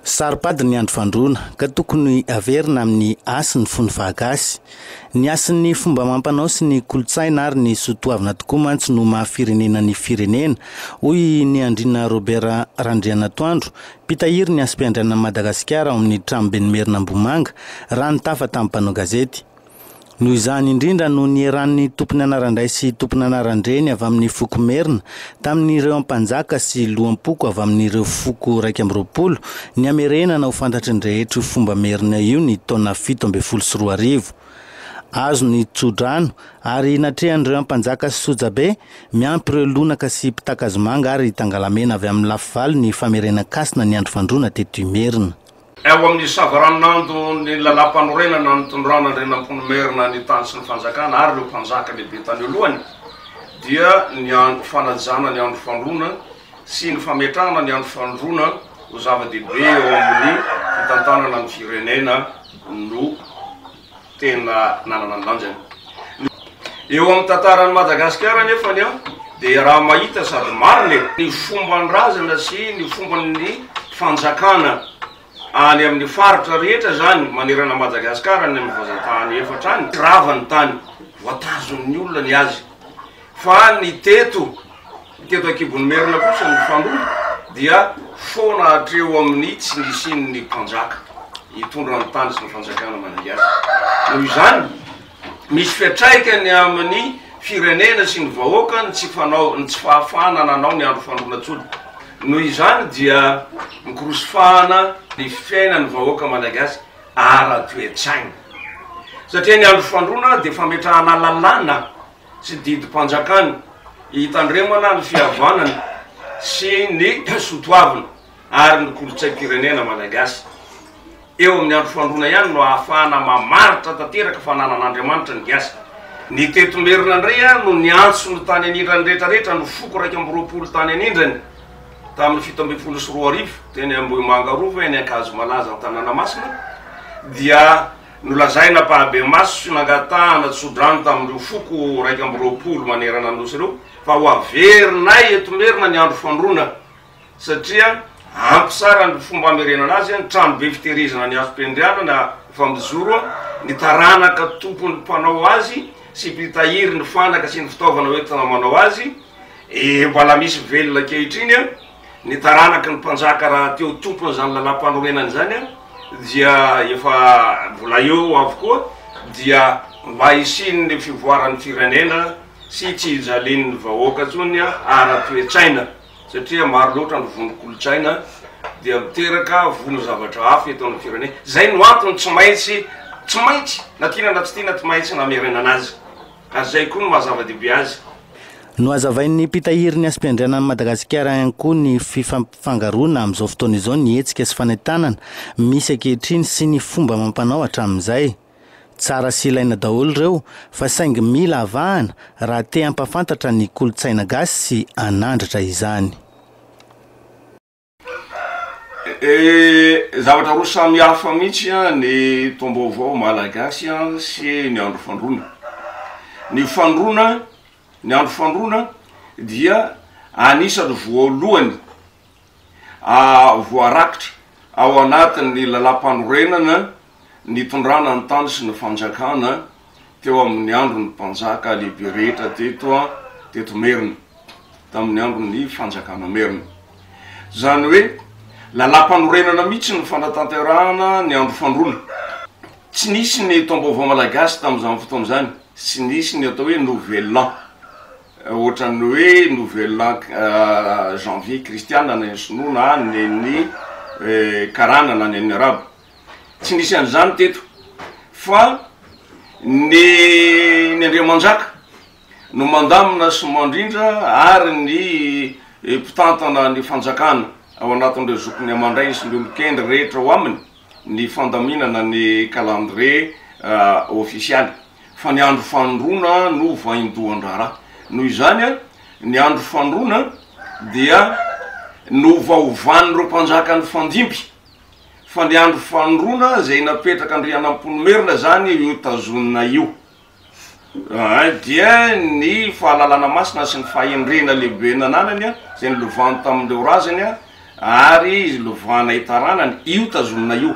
Saro-pady ny andro fandroana, ka tokony haverina amin'ny hasy ny fony fahagasy. Ny hasin'ny fomba amam-panao sy ny kolontsaina ary ny soa toavina tokoa mantsy no maha firenena ny firenena, hoy i Niandriana Robert Randrianatoandro, mpitahiry ny hasim-piandrianan'i Madagasikara ao amin'ny Tranoben'ny Merina Ambohimanga, raha nitafa tamin'ny mpanao gazety. Noho izany indrindra no nieran'ny tompony anaran-dray sy tompony anaran-dreny avy amin'ny foko merina, tamin'ireo ampanjaka sy loham-poko avy amin'ireo foko iraika amby roapolo, ny hamerenana ho fantatry ny rehetra io fomba merina io ny taona fito ambin'ny folo sy roa arivo. Azo ny tso-drano, ary natrehan'ireo ampanjaka sy sojabe, miampy ireo lonaka sy mpitàkazomanga ary tangalamena avy amin'ny lafivalo ny famerenan-kasina ny andro fandroana teto Imerina. Ao amin'ny savaranonando ny Lalàmpanorenana nitondrana Andrianampoinimerina ny tany sy ny fanjakana ary ireo mpanjaka lehibe tany alohany dia ny andro fanajana ny andro fandroana sy ny fametrahana ny andro fandroana ho zava-dehibe eo amin'ny fitantanana ny firenena no tena nanana ny lanjany. Eo amin'ny tantaran'i Madagasikara anefa ny aho dia raha mahita sady marina e! ny fomban-drazana sy ny fomban'ny fanjakana any amin'ny faritra rehetra izany manerana an'i Madagasikara any amin'ny vazantany efatra any, tsy rava ny tany, voatazon'ny olona ny azy. Fa ny teto, ny teto an-kibon'ny merina kosa ny fandroana dia foana hatreo amin'ny tsy nisian'ny mpanjaka hitondra ny tany sy ny fanjakana manainga azy. Noho izany, misy fiantraikany amin'ny firenena sy ny vahoaka ny tsy fanao, ny tsy fahafahana nanao ny andro fandroana tsony. Noho izany dia mikorosy fahana ny fiainan'ny vahoaka manainga azy ara-toetsaina. Satria ny andro fandroana dia fametrahana lalàna. sy didim-panjakany hitandremana ny fihavanana sy ny soatoavina ary ny kolontsaim-pirenena malagasy. Eo amin'ny andro fandroana ihany no ahafahana mamaritra tanteraka fa nanan'Andriamanitra ny gasy. Ny teto Merina indray no niantso ny tany anindran'ny rehetrarehetra ny foko iraika amby roapolo tany anindrany tamin'ny fito ambin'ny folo sy roa arivo teny Ambohimanga Rova eny Ankazomalaza Antananamasina dia Nolazaina mpahabe-maso sy nangatahana tso-drano tamin'ireo foko iraika amby roapolo manerana ny Nosy ireo fa ho averinay eto Merina ny andro fandroana satria ampy tsara ny fomba hamerenana azy, ny tranobe fitehirizana ny hazom-piandrianana na efa mijoro, ny taranaka tompon'ny mpanao azy sy mpitahiry ny fanaka sy ny fitaovana hoentina manao azy, eh mbola misy velona ankehitriny. Ny taranaky ny mpanjaka rahateo tompon'izany lalam-panorenana izany dia efa mbola eo avokoa dia mba hisian'ny fivoaran'ny firenena sy tsy hijalian'ny vahoaka intsony ara-toe-tsaina satria maro loatra ny vondron-kolontsaina dia miteraka vono zavatra hafa eto amin'ny firenena. Izay no antony tsy maintsy, tsy maintsy, na tiana na tsy tiana, tsy maintsy namerenana azy. ary izay koa no maha zava-dehibe azy. Nohazavain'ny mpitahiry ny hasim-piandrianan'i Madagasikara ihany koa ny fifampifangaroana amin'izao fotoana izao ny hetsika sy fanentanana misy ankehitriny sy ny fomba amam-panao hatramin'izay. Tsara sy ilaina daholo ireo fa saingy mila avahana raha te hampahafantatra ny kolontsaina gasy sy hanandratra izany. Zavatra roa samy hafa mihitsy ny taom-baovao malagasy sy ny andro fandroana. Ny fandroana, ny andro fandroana dia anisan'ny voalohany voarakitra ao anatin'ny lalàmpanorenana nitondrana ny tany sy ny fanjakana teo amin' ny andron' ny mpanjaka lehibe rehetra teto teto Merina, tamin' ny andron' ny Fanjakana Merina. Izany hoe lalàm-panorenana mihitsy no fanatanterahana ny andro fandroana. Tsy nisy ny taom-baovao malagasy tamin' izany fotoana izany, tsy nisy ny atao hoe Nouvel An, hoatra ny hoe Nouvel An Janvier kristiana any amin' ny Sinoa na any amin' ny Karana na any amin' ny Arabo. Tsy nisy an'izany teto fa ny ny Andriamanjaka no mandamina sy mandrindra ary ny mpitantana ny fanjakana ao anatin'ireo zokiny aman-drainy sy ny olon-kendry rehetra ao aminy ny fandaminana ny calendrier ofisialy fa ny andro fanondroana no vaindohan-draharaha. Noho izany, ny andro fanondroana dia novahovan'ireo mpanjaka nifandimby. fa ny andro fanondroana izay napetrak' Andrianampoinimerina izany io tazonina io dia ny fahalalana masina sy ny fahendrena lehibe nananany izay nilovany tamin' ireo razany ary lovana itaranany io tazonina io.